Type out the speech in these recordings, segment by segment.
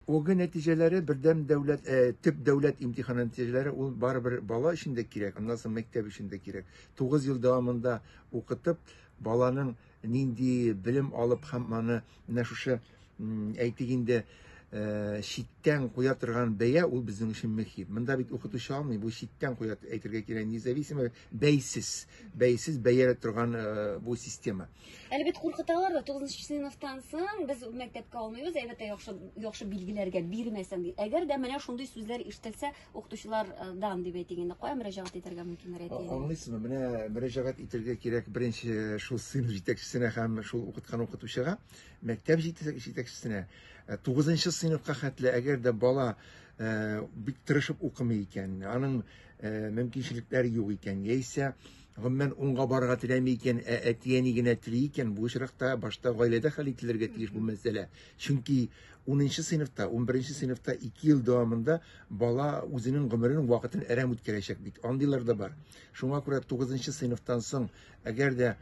ОГЭ нәтиҗәләре бердәм дәүләт э, төп дәүләт имтиханы нәтиҗәләре ул барыбер бала өчен дә кирәк, аннан соң мәктәп өчен дә кирәк. 9 ел дәвамында укытып, баланың нинди белем алып һәм аны менә шушы әйтик инде э, читтән куя торган бәя ул безнең өчен мөһим. Монда бит укытучы алмый, бу читтән куя әйтергә кирәк, независимо бәйсез бәйсез бәяләп торган э, бу система әлбәттә куркыталар да тугызынчы сыйныфтан соң без мәктәпкә алмыйбыз әлбәттә яхшы яхшы билгеләргә бирмәсәң ди әгәр дә менә шундый сүзләр ишетелсә укытучылардан дип әйтик инде кая мөрәҗәгать итәргә мөмкиннәр әти аңлыйсызмы менә мөрәҗәгать итәргә кирәк беренче э, шул сыйныф җитәкчесенә һәм шул укыткан укытучыга мәктәп җитәкчесенә э, тугызынчы сыйныфка хәтле әгәр дә бала бик тырышып укымый икән аның Ә, мөмкинчелекләр юк икән, яисә гомумән уңга барырга теләми икән, ә әти-әни генә тели икән, бу очракта башта гаиләдә хәл ителергә тиеш бу мәсьәлә. Чөнки 10 сыйныфта, 11 сыйныфта 2 ел дәвамында бала үзенең гомерен, вакытын әрәм үткәрәчәк бит. Андыйлар да бар. Шуңа күрә 9 сыйныфтан соң, әгәр дә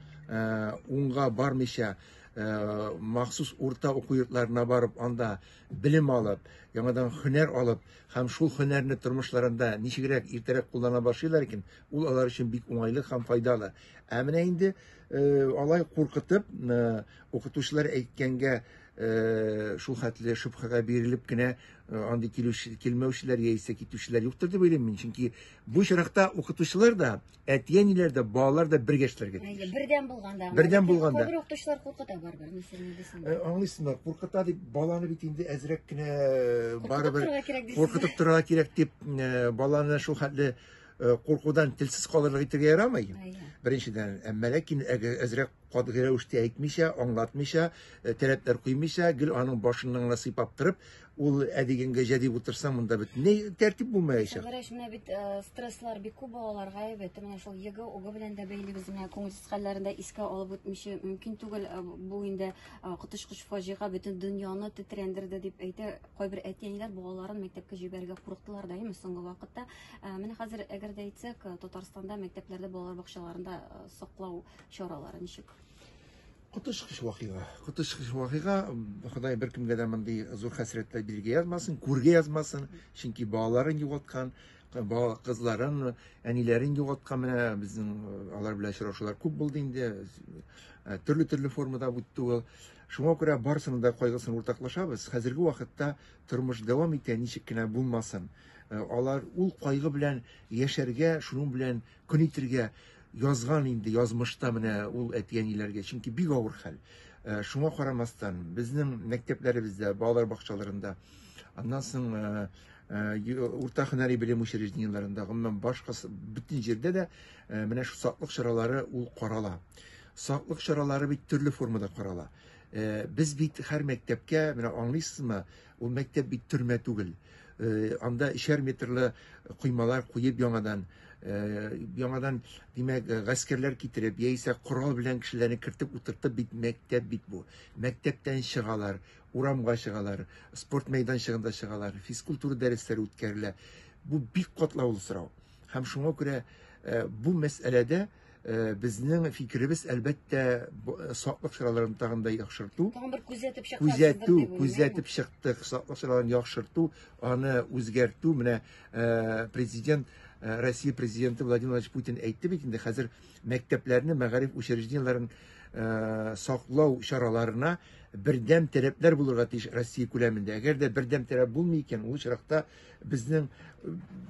уңга бармыйча, махсус урта уку йортларына барып, анда белем алып, яңадан хөнәр алып һәм шул хөнәрне тормышларында ничегрәк иртәрәк куллана башлыйлар икән, ул алар өчен бик уңайлы һәм файдалы. Ә менә инде э, алай куркытып, э, укытучылар әйткәнгә э, шул хәтле шөбһәгә бирелеп кенә э, андый килүче, килмәүчеләр яисә китүчеләр юктыр дип уйлыйм мин. Чөнки бу очракта укытучылар да, Әти-әниләр дә, балалар да бергә эшләргә тиеш. Әйе, бердәм булганда. Бердәм булганда. Күбрәк укытучылар куркыта барыбер, мәсәлән, дисәң. Э, аңлыйсыңмы, куркыта дип, баланы бит инде әзрәк кенә э, барыбер куркытып торырга кирәк дип, э, баланы шул хәтле куркудан телсез калырлык итергә ярамый. Беренчедән, әмма ләкин әзрәк катгый рәвештә әйтмичә, аңлатмыйча, таләпләр куймыйча, гел аның башыннан гына сыйпап торып, Ул әдигенгә җәдип утырса, монда бит ни тәртип булмаячак. Гәрәш менә бит э, стресслар бик күп балаларга әйбәт. Менә шул його, уго белән дә бәйле без менә күңелсез хәлләрен дә искә алып үтмичә мөмкин түгел. Э, бу инде э, коточкыч фаҗига бөтен дөньяны тетрәндерде дип әйтә. Кайбер әти-әниләр балаларын мәктәпкә җибәрергә курыктылар да, әйме соңгы вакытта. Э, менә хәзер әгәр дә әйтсәк, э, Татарстанда мәктәпләрдә балалар бакчаларында э, саклау чаралары ничек? Коточкыч вакыйга. Коточкыч вакыйга. Ходай беркемгә дә мондый зур хәсрәтләр биргә язмасын, күргә язмасын. Чөнки балаларын югалткан, бала кызларын, әниләрен югалткан менә безнең э, алар белән очрашулар күп булды инде. Э, төрле-төрле формада үтте ул. Шуңа күрә барысының да кайгысын уртаклашабыз. Хәзерге вакытта тормыш дәвам итә, ничек кенә булмасын. Э, алар ул кайгы белән яшәргә, шуның белән Көн итергә язган инде язмышта менә ул әти-әниләргә, чөнки бик авыр хәл. Э, шуңа карамастан, безнең мәктәпләребездә, балалар бакчаларында, аннан соң э, э, урта һөнәри белем учреждениеләрендә, гомумән башка бөтен җирдә дә менә шу саклык чаралары ул карала. Саклык чаралары бит төрле формада карала. Без бит һәр мәктәпкә, менә аңлыйсызмы, Ул мәктәп бит төрмә түгел. Э, анда эчәр метрлы коймалар куеп яңадан э, яңадан димәк э, гаскәрләр китереп яисә корал белән кешеләрне кертеп утыртып бит мәктәп бит бу мәктәптән чыгалар урамга чыгалар спорт мәйданчыгында чыгалар физкультура дәресләре үткәрелә бу бик катлаулы сорау һәм шуңа күрә бу мәсьәләдә Э, безнең фикеребез әлбәттә э, саклык чараларын тагын да яхшырту тагын бер күзәтеп чыксак күзәтү күзәтеп чыктык саклык чараларын яхшырту аны үзгәртү менә э, президент россия президенты владимир владимирович путин әйтте бит инде хәзер мәктәпләрне мәгариф учреждениеләрен саклау чараларына бердәм таләпләр булырга тиеш россия күләмендә әгәр дә бердәм таләп булмый икән ул очракта безнең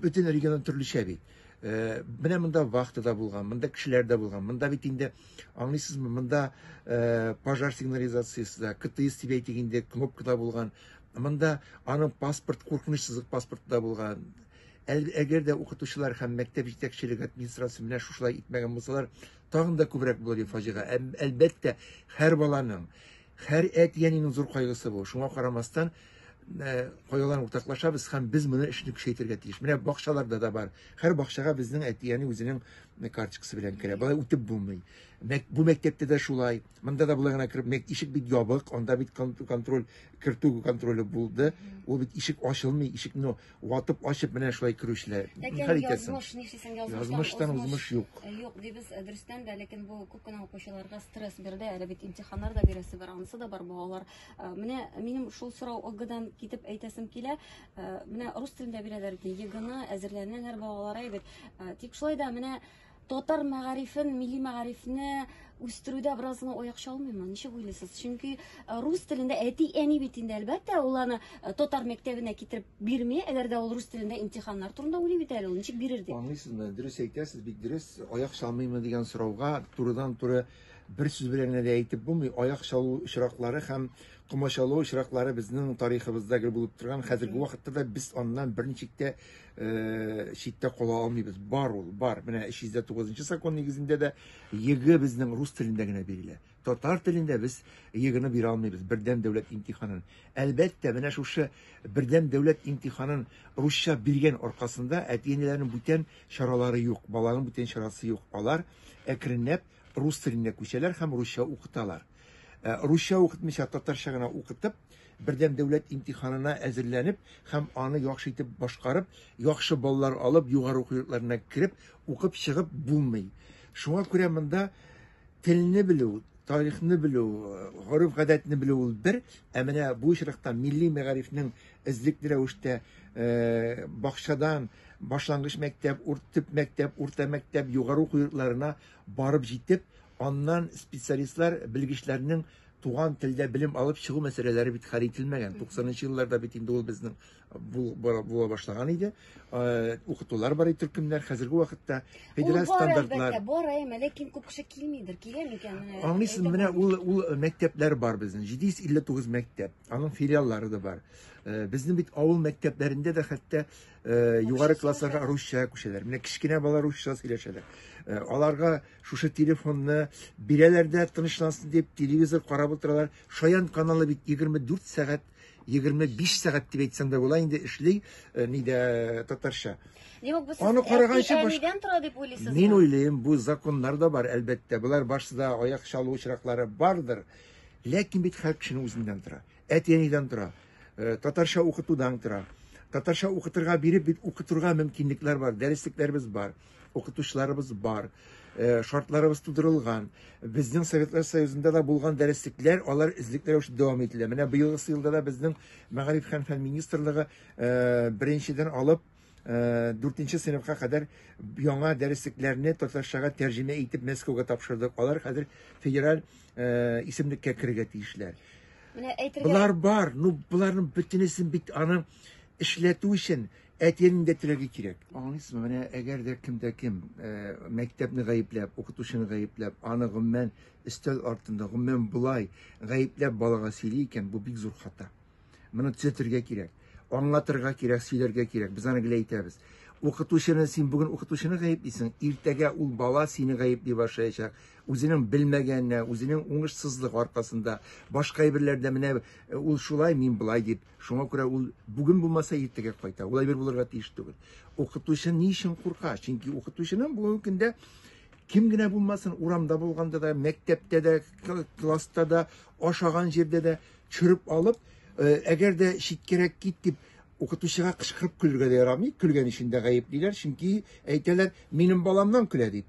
бөтен регион төрлечә бит Э, менә монда вахта да булган, монда кешеләр дә булган. Монда бит инде аңлыйсызмы, монда э, пожар сигнализациясе дә, КТС дип әйтик инде, кнопка да булган. Монда аның паспорт, куркыныч сызык паспорты да булган. Әгәр дә укытучылар һәм мәктәп җитәкчелеге администрациясе менә шушылай итмәгән булсалар, тагын да күбрәк булыр иде фаҗига. Әлбәттә, һәр баланың Һәр әти-әнинең зур кайгысы бу. Шуңа карамастан, Э, кайгыларын уртаклашабыз һәм без моны эшне көчәйтергә тиеш. Менә бакчаларда да бар. Һәр бакчага безнең әтияне үзенең э, карточкасы белән керә. Болай үтеп булмый. Бу мәктәптә дә шулай. Монда да болай гына кереп, мәк ишек бит ябык, анда бит контроль, кертү контроле булды. Ул бит ишек ачылмый, ишекне Ватып, ачып менә шулай керүчеләр. Хәл итәсең. Язмыш, нишлисең, язмыштан узмыш юк. Э, юк, дибез э, дөрестән дә, ләкин бу күп кенә укучыларга стресс бирде. Әле бит имтиханнар да бирәсе бар, анысы да бар балалар. Э, менә минем шул сорау ОГДан китеп әйтәсем килә. Менә рус телендә бирәләр ди, ЕГЭны әзерләнәләр балалар әйбәт. Тик шулай да менә татар мәгарифен, милли мәгарифне үстерүдә бераз гына аяк чалмыймы? Ничек уйлыйсыз? Чөнки э, рус телендә әти әни бит инде әлбәттә ул аны э, татар мәктәбенә китереп бирми, әгәр дә ул рус телендә имтиханнар турында уйлый бит әле ул. Ничек бирер дип? Аңлыйсызмы? Дөрес әйтәсез, бик дөрес. Аяк чалмыймы дигән сорауга турыдан туры бер сүз белән генә дә әйтеп булмый. Аяк чалу очраклары һәм комачаулау очраклары безнең тарихыбызда гел булып торган. Хәзерге вакытта да без аннан берничек тә э, читтә кала алмыйбыз. Бар ул, бар. Менә 309 закон нигезендә дә ЕГЭ безнең рус телендә генә бирелә. Татар телендә без ЕГЭны бирә алмыйбыз, бердәм дәүләт имтиханын. Әлбәттә, менә шушы бердәм дәүләт имтиханын русча биргән аркасында әти-әниләрнең бүтән чаралары юк, баланың бүтән чарасы юк. Алар әкренләп рус теленә күчәләр һәм русча укыталар. Э, русча укытмыйча татарча гына укытып, Бердәм дәүләт имтиханына әзерләнеп һәм аны яхшы итеп башкарып, яхшы баллар алып, югары уку йортларына кереп, укып чыгып булмый. Шуңа күрә монда телне белү, тарихны белү, гореф-гадәтне белү ул бер, ә менә бу очракта милли мәгарифнең эзлекле рәвештә бакчадан, башлангыч мәктәп, төп мәктәп, урта мәктәп, югары уку йортларына барып җитеп, аннан специалистлар, белгечләрнең Туган телдә белем алып чыгу мәсьәләләре бит хәл ителмәгән. 90-нчы елларда бит инде ул безнең була башлаган иде. Укытулар бар иде төркемнәр. Хәзерге вакытта федераль стандартлар. Бар, әмма ләкин күп кеше килмидер. Килә микән? Аңлыйсыз, менә ул ул мәктәпләр бар безнең. 759 мәктәп. Аның филиаллары да бар. Безнең бит авыл мәктәпләрендә дә хәтта югары классларга русча күчәләр. Менә кечкенә балалар русча сөйләшәләр. Аларга Шушы телефонны бирәләр дә тынычлансын дип телевизор карап утыралар. Шаян каналы бит 24 сәгать, 25 сәгать дип әйтсәң дә була инде эшли, э, нидә э, татарча. Димәк, бу Аны караганчы баш... тора дип уйлыйсызмы? Мин уйлыйм, бу законнар да бар, әлбәттә. Болар барсыда аяк чалу очраклары бардыр. Ләкин бит һәр кешенең үзеннән тора. Әти-әнидән тора. Э, татарча укытудан тора татарча укытырга биреп бит укытырга мөмкинлекләр бар дәреслекләребез бар укытучыларыбыз бар, э, шартларыбыз тудырылган. Безнең Советлар Союзында да булган дәреслекләр, алар эзлекле рәвештә дәвам ителә. Менә быелгы елда да безнең Мәгариф һәм фән министрлыгы э, беренчедән алып э, дүртенче сыйныфка кадәр яңа дәреслекләрне татарчага тәрҗемә итеп Мәскәүгә тапшырдык. Алар хәзер федераль исемлеккә керергә тиешләр. Менә әйтергә Булар бар, ну буларның бөтенесен бит аны эшләтү өчен Әтиәнең дә теләге кирәк. Аңлыйсызмы, менә әгәр дә кем дә кем э, мәктәпне гаепләп, укытучыны гаепләп, аны гомумән өстәл артында, гомумән болай гаепләп балага сөйли икән, бу бик зур хата. Моны төзәтергә кирәк. Аңлатырга кирәк, сөйләргә кирәк. Без аны гел әйтәбез. Укытучыны син бүген укытучыны гаеплисең, иртәгә ул бала сине гаепли башлаячак. Үзенең белмәгәненә, үзенең уңышсызлык аркасында, башка әйберләрдә менә э, ул шулай, мин былай дип Шуңа күрә ул бүген булмаса иртәгә кайта. Улай бер булырга тиеш түгел. Укытучы ни өчен курка? Чөнки укытучының бүгенге көндә кем генә булмасын, урамда булганда да, мәктәптә дә, класста да, ашаган җирдә дә чөреп алып, э, әгәр дә читкәрәк кит дип укытучыга кычкырып көлергә дә ярамый, көлгән өчен дә гаеплиләр, чөнки әйтәләр, минем баламнан көлә дип.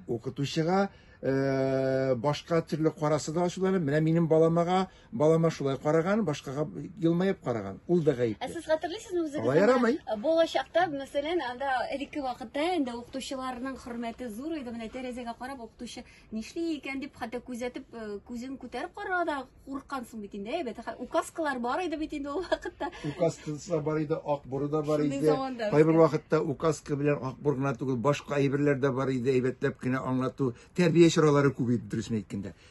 Укытучыга э, башка төрле карасы да ачуланып, менә минем баламага Балама шулай караган, башкага елмаеп караган. Ул да гаепле. Ә сез хәтерлисезме үзегез? Алай ярамый. Бала чакта, мәсәлән, анда элекке вакытта инде укытучыларның хөрмәте зур иде. Менә тәрәзәгә карап укытучы нишли икән дип хәтта күзәтеп, э, күзен күтәреп карарга да курыккансың бит инде. Әйбәт, указкалар бар иде бит инде ул вакытта. Указкасы бар иде, ак буры да бар иде. Кайбер вакытта указка белән ак бур гына түгел, башка әйберләр дә бар иде, әйбәтләп кенә аңлату, тәрбия чаралары күп иде, дөресен әйткәндә.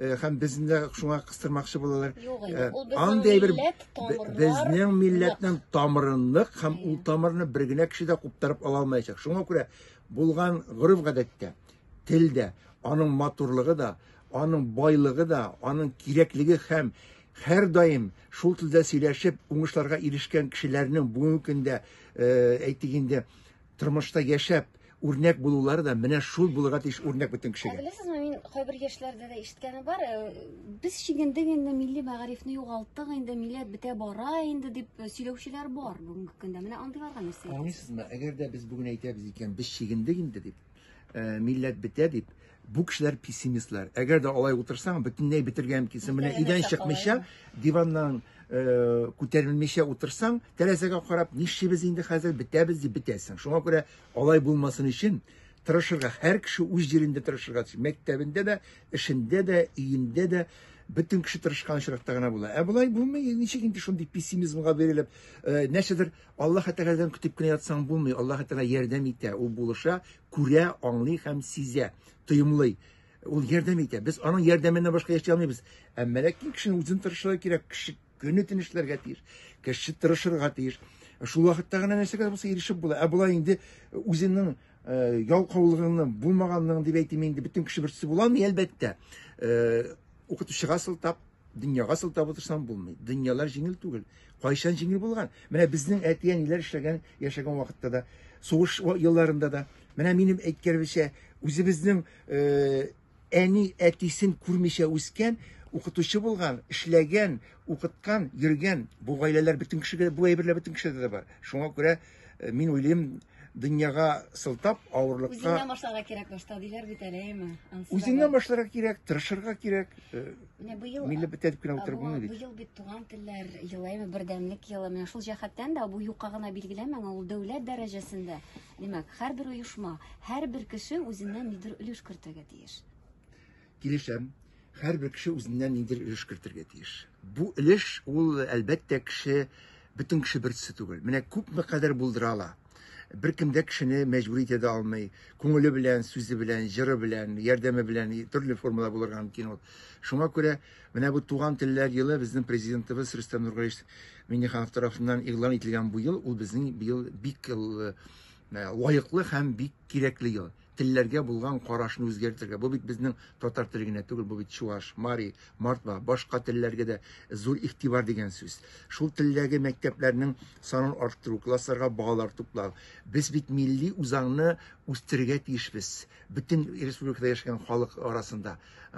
Э, һәм безне дә шуңа кыстырмакчы булалар. Э, андый бер безнең милләтнең тамыры нык һәм ул тамырны бер генә кеше дә куптарып ала алмаячак. Шуңа күрә булган гореф-гадәттә, телдә аның матурлыгы да, аның байлыгы да, аның кирәклеге һәм һәр даим шул телдә сөйләшеп уңышларга ирешкән кешеләрнең бүгенге көндә э, әйтик инде Тормышта яшәп, үрнәк булулары да менә шул булырга тиеш үрнәк бөтен кешегә. Ә беләсезме, мин кайбер яшьләрдә дә ишеткәне бар, э, без чигендек инде милли мәгарифне югалттык инде, милләт бетә бара инде дип э, сөйләүчеләр бар бүгенге көндә. Менә андыйларга нәрсә әйтәсез? Аңлыйсызмы, әгәр дә без бүген әйтәбез икән, без чигендек инде дип, э, милләт бетә дип, Бу кешеләр пессимистлар. Әгәр дә алай утырсаң, бөтенләй бетергә мөмкинсең. Менә идән чыкмыйча, диваннан э, күтәрелмичә утырсаң, тәрәзәгә карап, нишибез инде хәзер, бетәбез дип бетәсең. Шуңа күрә алай булмасын өчен тырышырга, һәр кеше үз җирендә тырышырга тиеш. Мәктәбендә дә, эшендә дә, өендә дә бөтен кеше тырышкан очракта гына була. Ә болай булмый, ничек инде шундый пессимизмга бирелеп, э, нәрсәдер Аллаһ Тәгаләдән көтеп кенә ятсаң булмый. Аллаһ Тәгалә ярдәм итә, ул булыша, күрә, аңлый һәм сизә, тоемлый. Ул ярдәм итә. Без аның ярдәменнән башка яши алмыйбыз. Әмма ләкин кешенең үзен тырышлыгы кирәк. Кеше көне төн эшләргә тиеш. Кеше тырышырга тиеш. Шул вакытта гына нәрсәгә булса ирешеп була. Ә болай инде үзенең э, ялкаулыгының булмаганлыгын дип әйтим инде бөтен кеше берсе була алмый, әлбәттә. Э, укытучыга сылтап, Дөньяга сылтап утырсаң булмый. Дөньялар җиңел түгел. Кайчан җиңел булган? Менә безнең әти-әниләр эшләгән, яшәгән вакытта да, сугыш елларында да. Менә минем әйткәнемчә, үзебезнең э, әни әтисен күрмичә үскән, укытучы булган, эшләгән, укыткан, йөргән бу гаиләләр бөтен кешегә бу әйберләр бөтен кешедә дә бар. Шуңа күрә э, мин уйлыйм, Дөньяга сылтап авырлыкка... Үзеңнән башларга кирәк башта, диләр бит әле, әйме? Үзеңнән башларга кирәк, тырышырга кирәк. Э, менә быел... Милли бетәдеп кенә утырып булмый бит. Быел бит туган телләр елы, әйме, бердәмлек елы. Менә шул җәһәттән дә бу юкка гына билгеләмәң, ул дәүләт дәрәҗәсендә. Димәк, һәрбер оешма, һәрбер кеше үзеннән нидер өлеш кертергә тиеш. Килешәм, һәрбер кеше үзеннән ниндидер өлеш кертергә тиеш. Бу өлеш ул, әлбәттә, кеше бөтен кеше бер төсе түгел. Менә күпме кадәр булдыра ала. Беркем дә кешене мәҗбүр итә дә алмый. Күңеле белән, сүзе белән, җыры белән, ярдәме белән төрле формада булырга мөмкин ул. Шуңа күрә менә бу Туган телләр елы безнең президентыбыз Рөстәм Нургалиевич Миңнеханов тарафыннан игълан ителгән бу ел, ул безнең быел бик э, лаеклы һәм бик кирәкле ел. телләргә булган карашны үзгәртергә. Бу бит безнең татар теле генә түгел, бу бит чуаш, мари, мордва, башка телләргә дә зур игътибар дигән сүз. Шул телдәге мәктәпләрнең санын арттыру, классларга балалар туплау. Без бит милли үзаңны үстерергә тиешбез бөтен республикада яшәгән халык арасында.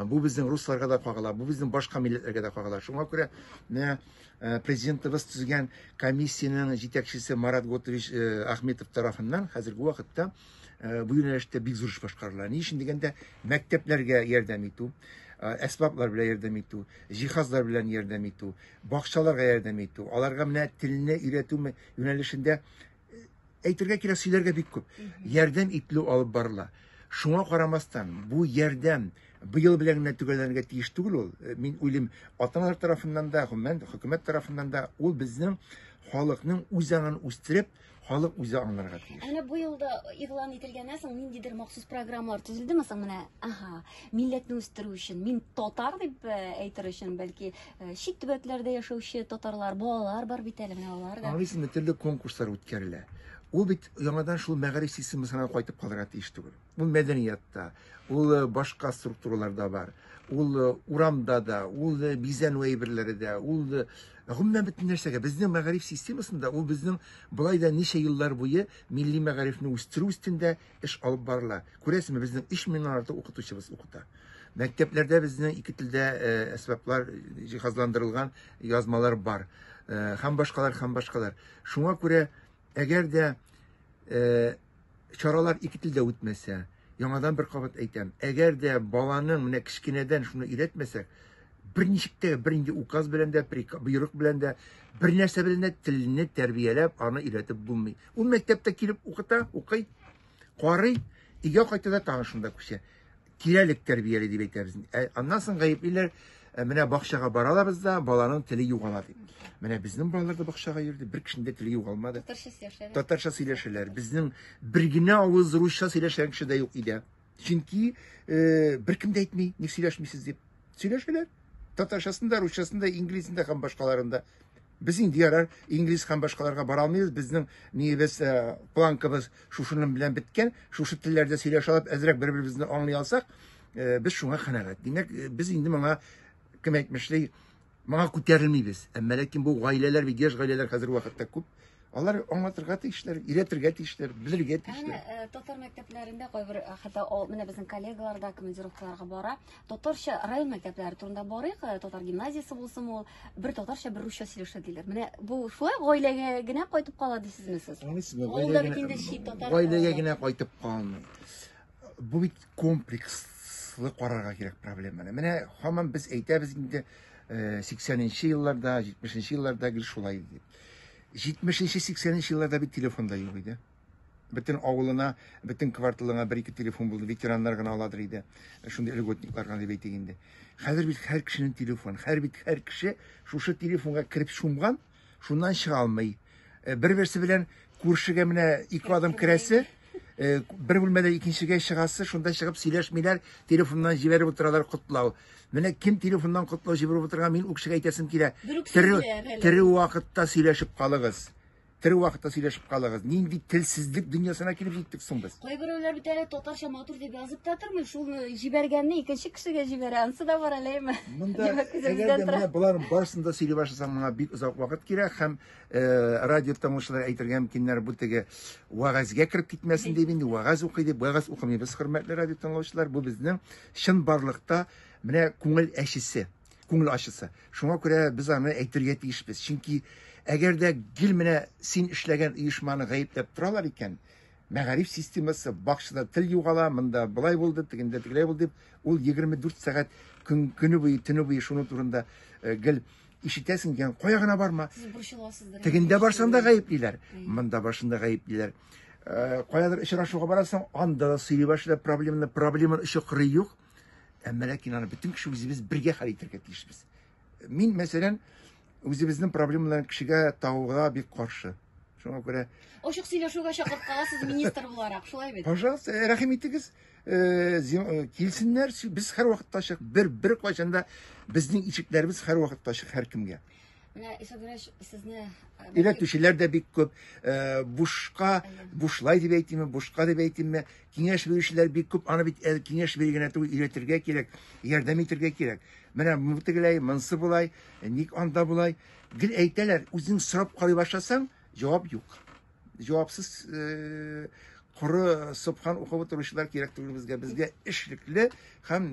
Бу безнең русларга да кагыла, бу безнең башка милләтләргә дә кагыла. Шуңа күрә менә э, президентыбыз төзегән комиссиянең җитәкчесе Марат Готович э, Ахметов тарафыннан хәзерге вакытта Э, бу юнәлештә бик зур эш башкарыла ни өчен дигәндә мәктәпләргә ярдәм итү э, әсбаплар белән ярдәм итү җиһазлар белән ярдәм итү бакчаларга ярдәм итү аларга менә телне өйрәтү юнәлешендә э, әйтергә кирәк сөйләргә бик күп ярдәм ителү алып барыла шуңа карамастан бу ярдәм быел белән генә төгәлләнергә тиеш түгел ул мин уйлыйм ата аналар тарафыннан да гомумән хөкүмәт тарафыннан да ул безнең халыкның үзаңын үстереп Халык үзе аңларга тиеш. Әнә бу елда игълан ителгәннән соң ниндидер махсус программалар төзелдеме соң менә? Ага, милләтне үстерү өчен, мин татар дип э, әйтер өчен, бәлки э, чит төбәкләрдә яшәүче татарлар, балалар бар бит әле менә алар да. Аңлыйсыңмы, төрле конкурслар үткәрелә. Ул бит яңадан шул мәгариф системасына кайтып калырга тиеш түгел. Ул мәдәниятта, ул э, башка структураларда бар. Ул э, урамда да, ул э, бизәнү әйберләре дә, ул гомумән бөтен нәрсәгә. Безнең мәгариф системасында ул безнең былай да ничә еллар буе милли мәгарифне үстерү өстендә эш алып барыла. Күрәсезме, безнең 3 меңнән артык укытучыбыз укыта. Мәктәпләрдә безнең ике телдә әсбаплар җиһазландырылган язмалар бар. Һәм башкалар, һәм башкалар. Шуңа күрә, әгәр дә чаралар ике телдә үтмәсә, яңадан бер кабат әйтәм, әгәр дә баланың менә кечкенәдән шуны өйрәтмәсәк, берничек тә бернинди указ белән дә, боерык белән дә, бер нәрсә белән дә телне тәрбияләп, аны өйрәтеп булмый. Ул мәктәптә килеп укыта, укый, карый, өйгә кайта да тагын шунда күчә. Кирәлек тәрбияли дип әйтәбез. Ә аннан соң гаеплиләр, ә менә бакчага баралар бездә, баланың теле югала дип. Менә безнең балалар да бакчага йөрде, бер кешенең дә теле югалмады. Татарча сөйләшәләр. Татарча сөйләшәләр. Безнең бер генә авыз русча сөйләшән кеше дә юк иде. Чөнки э, беркем дә әйтми, ник сөйләшмисез дип. Сөйләшәләр. Татарчасын да, русчасын да, инглизен дә һәм башкаларында. Без инде ярар инглиз һәм башкаларга бара алмыйбыз, безнең ниебез, э, планкабыз шушының белән беткән, шушы телләрдә сөйләшә алып, әзрәк бер-беребезне аңлый алсак, э, без шуңа канәгать. Димәк, э, без инде моңа кем әйтмешли, моңа күтәрелмибез. Әмма ләкин бу гаиләләр бит, яшь гаиләләр хәзерге вакытта күп. Алар аңлатырга тиешләр, өйрәтергә тиешләр, белергә тиешләр. Әнә э, татар мәктәпләрендә кайбер э, хәтта ул менә безнең коллегалар да командировкаларга бара. Татарча район мәктәпләре турында барыйк, э, татар гимназиясе булсын ул, бер татарча, бер русча сөйләшә диләр. Менә бу шулай гаиләгә генә кайтып кала дисезме сез? Аңлыйсызмы? Ул да бит инде чит татар. Гаиләгә генә кайтып калмый. Бу бит комплекслы карарга кирәк проблеманы. Менә һаман без әйтәбез инде 80 нче елларда, 70 нче елларда гел шулай дип. Җитмешенче, сиксәненче елларда бит телефон да юк иде. Бөтен авылына, бөтен кварталыңа бер-ике телефон булды. Ветераннар гына аладыр иде. Шундый льготниклар гына дип әйтик инде. Хәзер бит һәр кешенең телефон. Хәр бит һәр кеше шушы телефонга кереп чумган, шуннан чыга алмый. Э, бер-берсе белән Күршегә менә ике адым керәсе, э, бер бүлмәдә икенчегә чыгасы, шунда чыгып сөйләшмиләр, телефоннан җибәреп утыралар котлау. Менә кем телефоннан котлау җибәреп утырган, мин үкшегә әйтәсем килә. Тере, тере вакытта сөйләшеп калыгыз. Тере вакытта сөйләшеп калыгыз. Нинди телсезлек дөньясына килеп җиттек соң без? Кайберәүләр бит әле татарча матур дип язып та тормый, шул җибәргәнне икенче кешегә җибәрә, ансы да бар әлеме? Монда әгәр дә менә боларның барысын да сөйли башласаң, моңа бик озак вакыт кирәк һәм Э, радио тыңлаучылар әйтергә мөмкиннәр бу теге вәгазьгә кереп китмәсен дип инде вәгазь укый дип вәгазь укымыйбыз хөрмәтле радио тыңлаучылар бу безнең чын барлыкта менә күңел әчесе күңел ачысы шуңа күрә без аны әйтергә тиешбез чөнки әгәр дә гел менә син эшләгән оешманы гаепләп торалар икән мәгариф системасы бакчада тел югала монда былай булды тегендә тегеләй булды дип ул 24 сәгать көн көне буе төне буе шуның турында э, гел Ишетәсең икән, кая гына барма. Сез борчыласыздыр. Тегендә барсаң да гаеплиләр, монда барсаң да гаеплиләр. Э, каядыр очрашуга барасың, анда да сөйли башлыйлар проблеманы, проблеманы өче кыры юк. Әмма ләкин аны бөтен кеше үзебез бергә хәл итәргә тиешбез. Мин, мәсәлән, үзебезнең проблемаларны кешегә тагуга бик каршы. Шуңа күрә Ачык сөйләшүгә чакырткаласыз министр буларак, шулай бит? Пожалуйста, рәхим итегез. Э, э, килсеннәр без һәрвакытта ачык бер бер кайчанда безнең ишекләребез һәрвакытта ачык һәркемгә менә исәдмеш сезне өйрәтүчеләр э, дә бик күп бушка бушлай дип әйтимме бушка дип әйтимме киңәш бирүчеләр бик күп аны бит киңәш бирү генә түгел өйрәтергә кирәк ярдәм итәргә кирәк менә бу тегеләй монысы болай ник анда болай гел әйтәләр үзең сорап карый башласаң җавап юк Җавапсыз э, коры сыпхан укып утыручылар кирәк түгел безгә. Безгә эшлекле һәм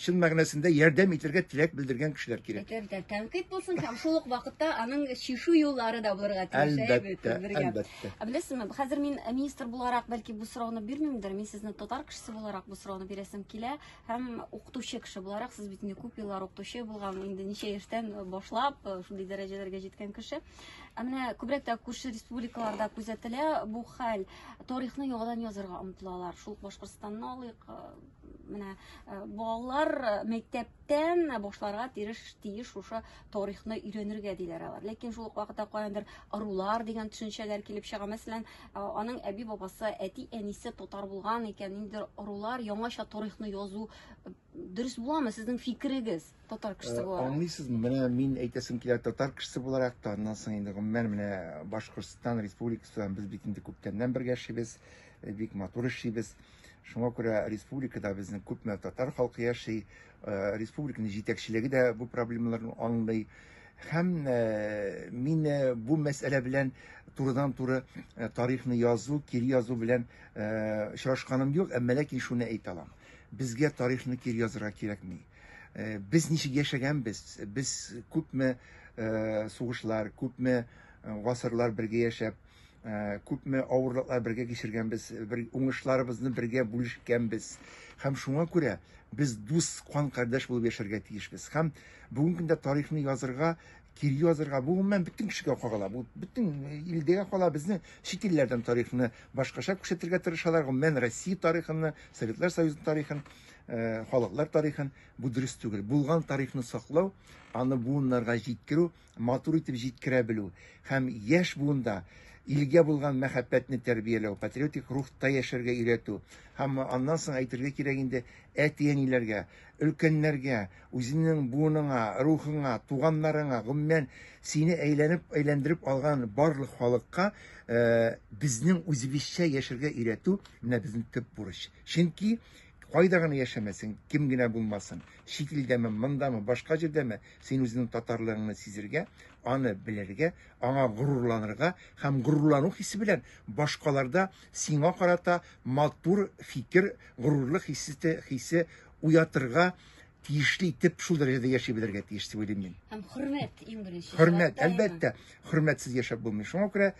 чын мәгънәсендә ярдәм итергә теләк белдергән кешеләр кирәк. Әлбәттә, тәнкыйть булсын һәм шул ук вакытта аның чишү юллары да булырга тиеш. Әлбәттә, әлбәттә. Ә беләсезме, хәзер мин э, министр буларак бәлки бу сорауны бирмимдер. Мин сезне татар кешесе буларак бу сорауны бирәсем килә һәм укытучы кеше буларак сез бит инде күп еллар укытучы булган, инде ничә яшьтән э, башлап э, шундый дәрәҗәләргә җиткән кеше. Ә менә күбрәк тә күрше республикаларда күзәтелә бу хәл. Тарихны яңадан язырга омтылалар. Шул Башкортстанны алыйк. Э, менә э, балалар э, мәктәптән башларга тиеш тиеш шушы тарихны өйрәнергә диләр алар. Ләкин шул ук вакытта каяндыр арулар дигән төшенчәләр килеп чыга. Мәсәлән, аның әби бабасы, әти әнисе татар булган икән, инде арулар яңача тарихны язу Дөрес буламы сезнең фикерегез татар кешесе э, буларак? Аңлыйсызмы? Менә мин әйтәсем килә татар кешесе буларак та, аннан соң инде гомумән менә Башкортстан республикасы белән без бит инде күптәннән бергә яшибез, э, бик матур эшлибез. Шуңа күрә республикада безнең күпме татар халкы яши, э, республиканың җитәкчелеге дә бу проблемаларны аңлый. Һәм мин бу мәсьәлә белән турыдан туры тарихны язу, кире язу белән очрашканым юк, әмма ләкин шуны әйтә аламын. Безгә тарихны кире язырга кирәкми. Э, без ничек яшәгәнбез, без күпме э, сугышлар, күпме э, гасырлар бергә яшәп, күпме авырлыклар бергә кичергәнбез, бер уңышларыбызны бергә бүлешкәнбез. Һәм шуңа күрә без дус кан кардәш булып яшәргә тиешбез. Һәм бүгенге көндә тарихны язырга Кире язырга бу гомумән бөтен кешегә кагыла. Бу бөтен э, илдәгә кала. Безне чит илләрдән тарихны башкача күрсәтергә тырышалар. Гомумән Россия тарихын, Советлар Союзы тарихын, э, халыклар тарихын бу дөрес түгел. Булган тарихны саклау, аны буыннарга җиткерү, матур итеп җиткерә белү һәм яшь буында илгә булган мәхәббәтне тәрбияләү, патриотик рухта яшәргә өйрәтү һәм аннан соң әйтергә кирәк инде әти-әниләргә, өлкәннәргә, Үзеңнең буыныңа, рухыңа, туганнарыңа, гомумән, сине әйләнеп-әйләндереп алган барлык халыкка безнең үзебезчә яшәргә өйрәтү менә безнең төп бурыч. Чөнки кайда гына яшәмәсен, кем генә булмасын, чит илдәме, мондамы, башка җирдәме, син үзеңнең татарлыгыңны сизергә, аны белергә, аңа горурланырга һәм горурлану хисе белән башкаларда сиңа карата матур фикер, горурлык хисе, хисе уятырга тиешле итеп шул дәрәҗәдә яши белергә тиеш дип уйлыйм мин. Һәм хөрмәт иң беренче. Хөрмәт, әлбәттә, хөрмәтсез яшәп булмый. Шуңа күрә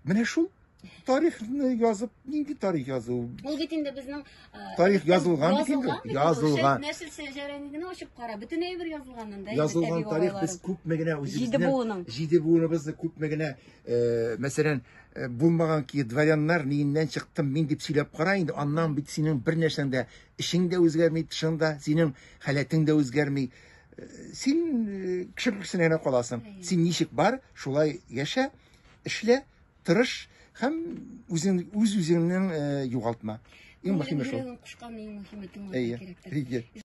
менә шул тарихны язып, нинди тарих язу? Ул бит инде безнең тарих язылган бит инде. Язылган. Нәсел сәҗәрәне генә ачып кара, бөтен әйбер язылган монда. Язылган тарих без күпме генә үзебезнең җиде буыныбызны күпме генә, мәсәлән, Э, булмаган ки дворяннар ниеннән чыктым мин дип сөйләп кара инде аннан бит синең бер нәрсәң дә эшең дә үзгәрми тышың да синең халәтең дә үзгәрми э, син э, кеше күркесенә генә каласың син ничек бар шулай яшә эшлә тырыш һәм үзең үз үзеңнең югалтма иң мөһиме шул кушкан иң мөһиме тыңлау кирәктер